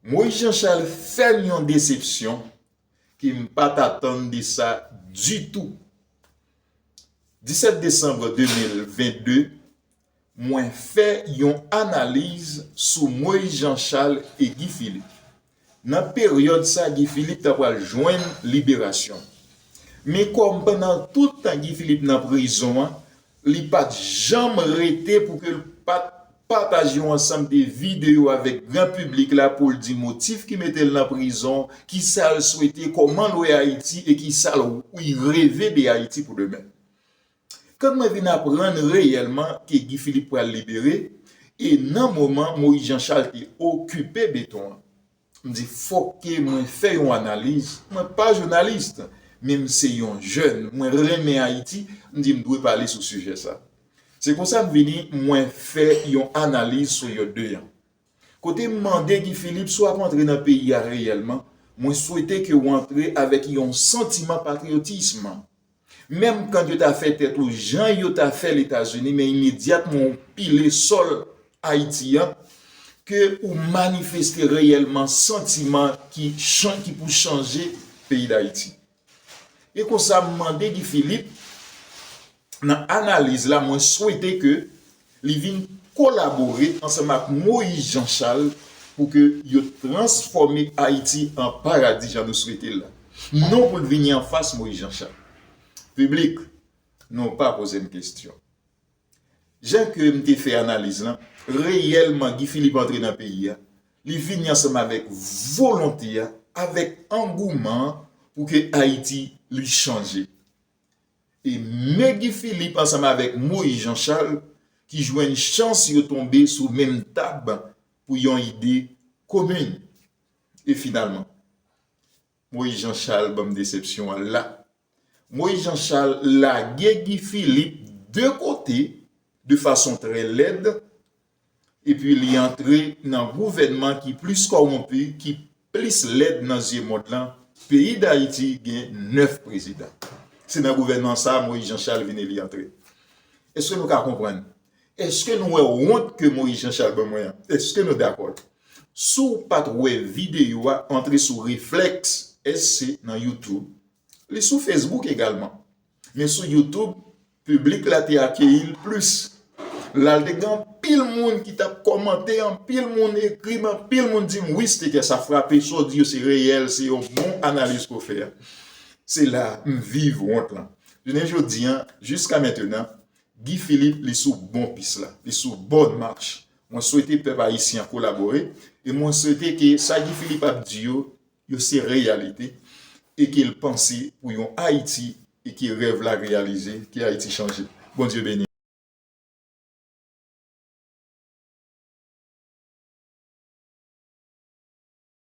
Moïse Jean Charles fèm yon desepsyon ke m pat atann de sa ditou. 17 Desanbre 2022 mwen fè yon analiz sou Moïse Jean Charles e Guy Philippe. Nan peryòd sa Guy Philippe ta pral jwenn liberasyon. Men kòm pandan tout tan Guy Philippe nan prizon an li pat janm rete pou ke l pat pataj yon ansanm de videyo avèk gran piblik la pou l di motif ki mete l nan prizon, ki sa l swete, kòman l wè Ayiti e ki sa l reve de Ayiti pou demen. Kan mwen vin aprann reyèlman ke Guy Philippe pral libere e nan moman Moïse Jean Charles te okipe beton an, M di fòk ke mwen fè yon analiz, mwen pa jounalis, men m se yon jèn, mwen renmen Ayiti, m di m dwe pale sou sijè sa. Se konsa m vini mwen fè yon analiz sou yo 2 an. Kote m mande Guy Philippe si w ap antre nan peyi a reyèlman, mwen swete ke w antre avèk yon santiman patriyotism. Menm kan yo ta fè tèt ou jan yo ta fè l Etazini men imedyatman ou pile sòl Ayiti an, ke ou manifeste reyèlman santiman ki chan ki pou chanje peyi Dayiti. E konsa m mande Guy Philippe nan analiz la mwen swete ke Li vin kolabore ansanm ak Moïse Jean Charles pou ke yo transfòme Ayiti an paradi jan nou swete l la. Non pou l vini an fas Moïse Jean Charles. Piblik, nou pa poze m kestyon. Jan ke m te fè analiz lan, reyèlman Guy Philippe antre nan peyi a, li vini ansanm avèk volonte a, avèk angouman an pou ke Ayiti li chanje. E Me Guy Philippe ansanm avèk Moise Jean Charles ki jwenn chans yo tonbe sou menm tab pou yon ide komin. E finalman, Moise Jean Charles banm desepsyon an la. Moise Jean Charles lage Guy Philippe de kote de fason trè lèd epi li antre nan gouvènman ki plis kòwonpi, ki plis lèd nan zye mond lan, peyi Dayiti gen 9 prezidan. Se nan gouvènman sa a Moïse Jean Charles vin eli antre. Eske nou ka konprann? Eske nou wè wont ke Moïse Jean Charles ban mwen an? Eske nou dakò l? Si w pat wè videyo a, antre sou Reflex SC nan YouTube, Li sou Facebook egalman. Men sou YouTube, piblik la te akeyi l plis. La l te gen anpil moun ki t ap kòmante, anpil moun ekri m, anpil moun di m, wi Stekè sa frape, sa w di yo se reyèl, se yon bon analiz ke w fè a. Se la m viv wont lan. Jounen jodi an, jiska mentenan, Guy Philippe li sou bon pis la, li sou bòn mach. Mwen swete pèp ayisyen an kolabore e mwen swete ke sa Guy Philippe ap di yo yo se reyalite e ke l panse pou yon Ayiti e ke rèv la reyalize, ke Ayiti chanje. Bondye beni nou.